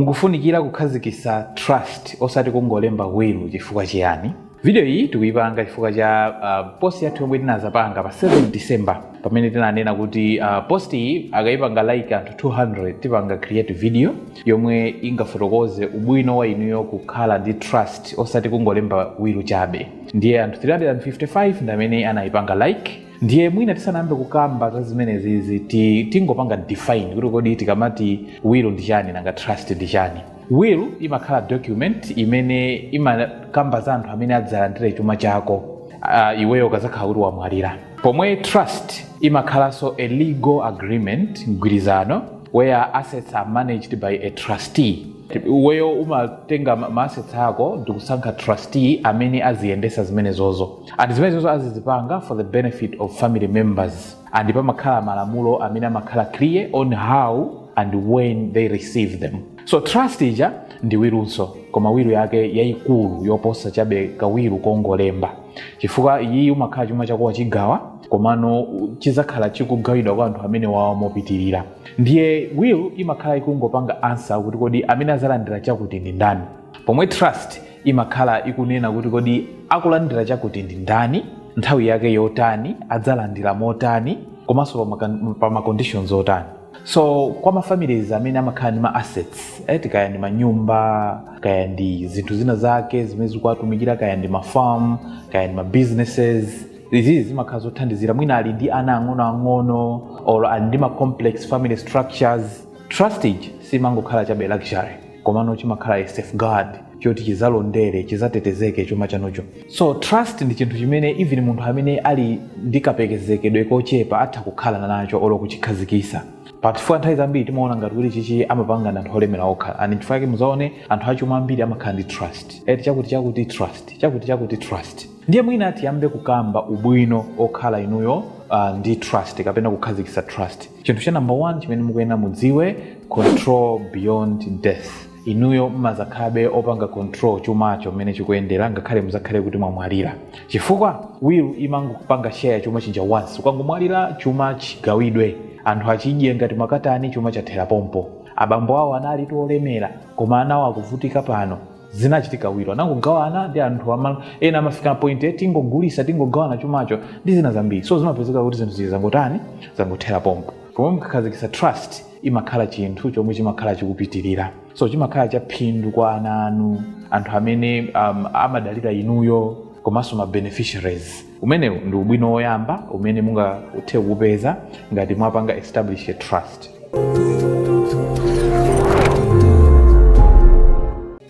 Mukufunikira kukhazikisa trust osati kungolemba will chifukwa chiyani? Video iyi tikuyipanga chifukwa cha post yathu yomwe tinazapanga pa 7 December pamene tinanena kuti uh, post iyi akayipanga like anthu 200 tipanga create video yomwe ingafotokoze ubwino wa inuyo kukhala ndi trust osati kungolemba will chabe ndiye anthu 355 ndamene anayipanga like ndiye mwina tisanayambe kukamba za zimenezizi ti- tingopanga define kuti kodi tikamati will ndi chani nanga trust ndi chani will imakhala document imene imakamba za anthu amene adzalandire chuma chako uh, iweyo ukazakhala kuti wamwalira pomwe trust imakhalanso a legal agreement mgwirizano where assets are managed by a trustee iweyo umatenga ma ma assets ako ndikusankha trustee amene aziyendesa zimenezozo and zimenezozo azizipanga for the benefit of family members and pamakhala malamulo amene amakhala clear on how and when they receive them so trust ija ndi wilunso koma wilu yake yayikulu yoposa chabe kawilu kongolemba chifukwa iyiyi umakhala chuma chako wachigawa komano chizakhala chikugawidwa kwa anthu amene wawa mopitirira ndiye will imakhala ikungopanga ansa kuti kodi amene azalandira chakuti ndi ndani pomwe trust imakhala ikunena kuti kodi akulandira chakuti ndi ndani nthawi yake yotani adzalandira motani komanso pa maka- pa ma conditions otani so kwa ma families amene amakhala ndi ma assets eti kaya ndi manyumba kaya ndi zinthu zina zake zimene zikuwatumikira kaya ndi mafarm kaya ndi ma businesses izizi zimakhala zothandizira mwina ali ndi ana ang'onoang'ono or ali ndi ma complex family structures trust ija simangokhala chabe luxury komano chimakhala a safeguard choti chizalondere chizatetezeke chuma chanucho so trust ndi chinthu chimene even munthu amene ali ndi kapezedwe kochepa atha kukhala nacho olo kuchikhazikisa but chifukwa nthawi zambiri timaona ngati kuti chichi amapanga ndi anthu olemera okha and chifukwa chake muzaone anthu achuma ambiri amakhala ndi trust eti chakuti chakuti trust chakuti chakuti trust ndiye mwina tiyambe kukamba ubwino okhala inuyo uh, ndi trust kapena kukhazikisa trust chinthu cha number one chimene mukuyenera mudziwe control beyond death inuyo mmazakhalabe opanga control chumacho mmene chikuyendera ngakhale muzakhale kuti mwamwalira chifukwa wiru imangopanga share chuma chija once ukangomwalira chuma chigawidwe anthu achidye ngati makatani chuma chathera pompo abambo awo analitu olemera koma anawo akuvutika pano zinachitika wilu anangogawana ndi anthu ama, ena amafika point eh, tingogulisa tingogawana chumacho ndi zina zambiri so zimapezeka kuti zinthu zija zangotani zangothera pompo pomwe mukakhazikisa trust imakhala chinthu chomwe chimakhala chikupitirira so chimakhala cha phindu kwa ana anu anthu amene um, amadalira inuyo komanso ma beneficiaries Umenewu ndi ubwino woyamba umene mungathe kuupeza ngati mwapanga establish a trust.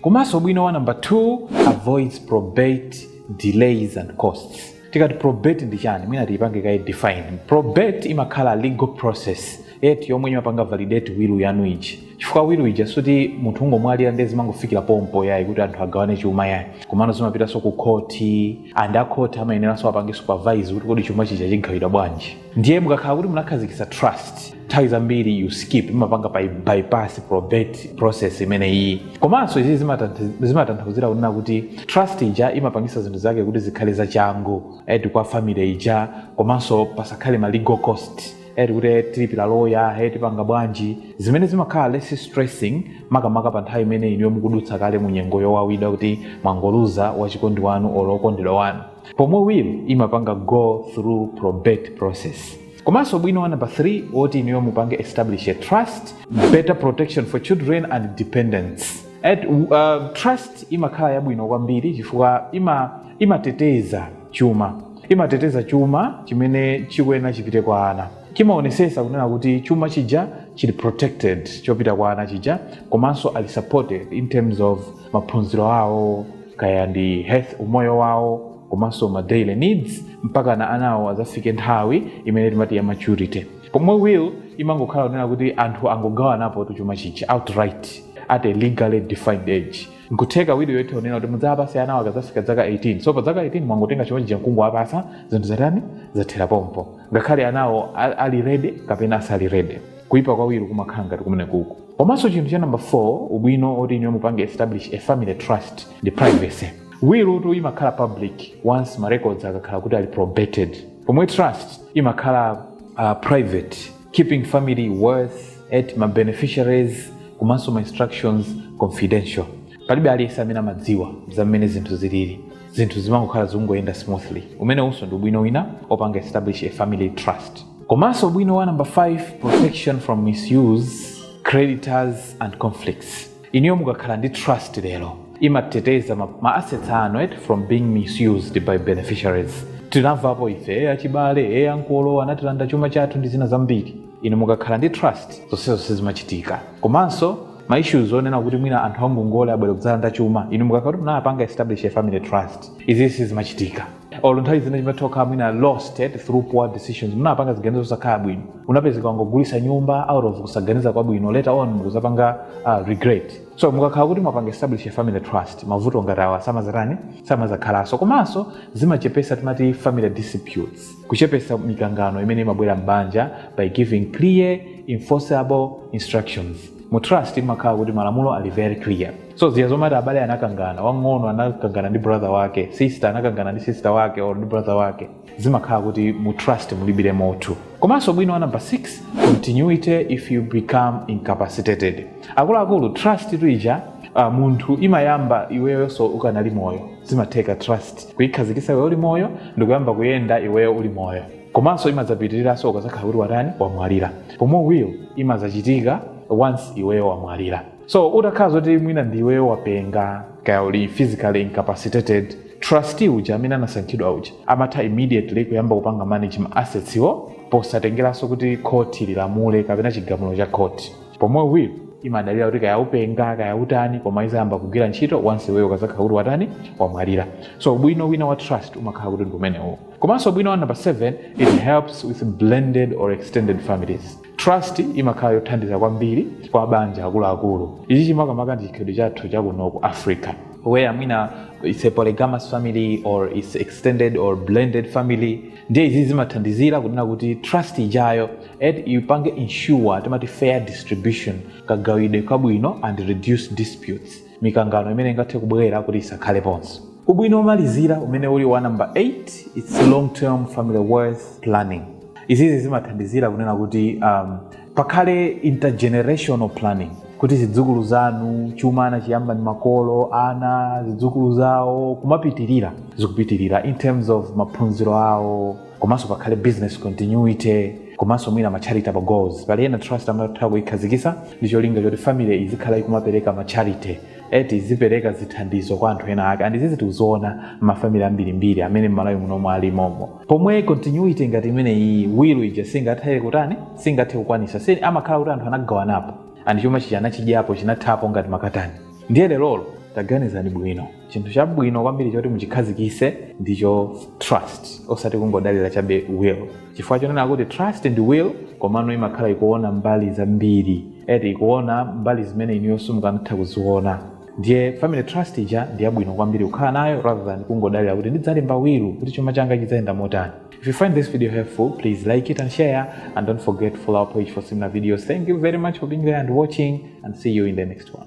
Komanso ubwino wa number 2 avoids probate delays and costs. Tikati probate ndi chani? Mwina tiipange kaye define. Probate imakhala legal process eti yomwe imapanga validate will yanu ija chifukwa will ija sikuti munthu ungomwalira ndiye zimangofikira pompo yayi kuti anthu agawane chuma yayi komano zimapitanso ku khoti and akhoti amayeneranso apange supervise kuti kodi chuma chija chigawidwa bwanji ndiye mukakhala kuti munakhazikitsa trust nthawi zambiri you skip imapanga by, bypass probate process imeneyi komanso izi zimatantha- zimatanthauzira kunena kuti trust ija imapangisa zinthu zake kuti zikhale zachangu eti kwa family ija komanso pasakhale ma legal cost eti kuti eh, tilipira loya eh, tipanga bwanji zimene zimakhala less stressing makamaka pa nthawi imene inuyo mukudutsa kale mu nyengo yowawidwa kuti mwangoluza wachikondi wanu olo okondedwa wanu pomwe will imapanga go through probate process komanso ubwino wa number 3 woti inuyo mupange establish a trust better protection for children and dependents eti uh, trust imakhala yabwino kwambiri chifukwa ima imateteza chuma imateteza chuma chimene chikuyenera chipite kwa ana chimaonesesa kunena kuti chuma chija chili protected chopita kwa ana chija komanso ali supported in terms of maphunziro awo kaya ndi health umoyo wawo komanso ma daily needs mpakana anawo azafike nthawi imene timati ya maturity pomwe will imangokhala kunena kuti anthu angogawanapotu chuma chija outright at a legally defined age nkutheka will yo itha kunena kuti mudzawapase anawo akadzafika zaka 18 so pa zaka 18 mwangotenga chuma chija nkungowapasa zinthu zatani zathera pompo ngakhale anawo a- ali ready kapena asali ready kuipa kwa will kumakhala ngati kumeneku komanso chinthu cha number 4 ubwino oti inuyo mupange establish a family trust ndi privacy will tu imakhala public once ma records akakhala kuti ali probated pomwe trust imakhala uh, private keeping family wealth eti ma beneficiaries komanso ma instructions confidential palibe aliyense amene amadziwa za mmene zinthu zilili zinthu zimangokhala zikungoyenda smoothly umenewunso ndi ubwino wina opanga establish a family trust komanso ubwino wa number 5 protection from misuse creditors and conflicts Inuyo mukakhala ndi trust lero imateteza ma, ma assets anu eti from being misused by beneficiaries. Tinamvapo ife eh achibale eh ankolo anatilanda chuma chathu ndi zina zambiri. Inu mukakhala ndi trust zonsezo sizimachitika. Komanso ma issues onena kuti mwina anthu angongole abwere kudzalanda chuma inu mukakhala kuti munapanga establish a family trust izi sizimachitika. or nthawi zina chuma chimatha kukhala mwina lost eh, through poor decisions munapanga ziganizo zosakhala bwino unapezeka wangogulisa nyumba out of kusaganiza kwabwino later on mukuzapanga uh, regret so mukakhala kuti mwapanga establish a family trust mavuto ngati awa samazatani samazakhalanso komanso zimachepesa timati family disputes kuchepesa mikangano imene imabwera m'banja by giving clear enforceable instructions mu trust imakhala kuti malamulo ali very clear so ziya zomati abale anakangana wang'ono anakangana ndi brother wake sister anakangana ndi sister wake or ndi brother wake zimakhala kuti mu trust mulibire motu komanso ubwino wa number 6 continuity if you become incapacitated akuluakulu trust ija uh, munthu imayamba iweyonso ukanali moyo zimatheka trust kuyikhazikisa iweyo uli moyo ndikuyamba kuyenda iweyo uli moyo komanso imadzapitiriranso ukazakhala kuti watani wamwalira pomwe will imazachitika once iweyo wamwalira so utakhala zoti mwina ndiweyo wapenga kaya uli physically incapacitated trustee uja amene anasankhidwa uja amatha immediately kuyamba kupanga manage ma assets iwo posatengeranso kuti khoti lilamule kapena chigamulo cha khoti pomwe will imadalira kuti kaya upenga kaya utani koma izayamba kugwira ntchito once iweyo ukazakhala kuti watani wamwalira so ubwino wina wa trust umakhala kuti ndi umenewo komanso ubwino wa number 7 it helps with blended or extended families Trust imakhala yothandiza kwambiri kwa mabanja akuluakulu. Ichi chimakamaka ndi chikhalidwe chathu cha kuno ku Africa where mwina it's a polygamous family or it's extended or blended family ndiye izi zimathandizira kunena kuti trust ijayo eti ipange ensure timati fair distribution kagawidwe kabwino and reduce disputes mikangano imene ingathe kubwera kuti isakhaleponso ubwino womalizira umene uli wa number 8 it's long term family wealth planning izizi zimathandizira kunena kuti um, pakhale intergenerational planning kuti zidzukulu zanu chuma anachiyamba ndi makolo ana zidzukulu zawo kumapitirira zikupitirira in terms of maphunziro awo komanso pakhale business continuity komanso mwina ma charitable goals pali ena trust amatha kuyikhazikisa ndi cholinga choti family izikhala ikumapereka ma charity eti izipereka zithandizo kwa anthu ena ake and izizi tikuziona mafamily ambirimbiri amene m'Malawi muno ali momo pomwe continuity ngati imene iyi will ija singathe kutani singathe kukwanisa si amakhala kuti anthu anagawanapo and chuma chija anachidyapo chinathapo ngati makatani ndiye lerolo taganizani bwino chinthu chabwino kwambiri choti muchikhazikise ndicho trust osati kungodalira chabe will chifukwa chonena kuti trust ndi will komano imakhala ikuona mbali zambiri eti ikuona mbali zimene inuyo simukanatha kuziona ndiye family trust ija ndi yabwino kwambiri kukhala nayo rather than kungodalira kuti ndidzalemba will kuti chuma changa chidzayenda motani If you find this video helpful, please like it and share. And don't forget to follow our page for similar videos. Thank you very much for being there and watching, and see you in the next one.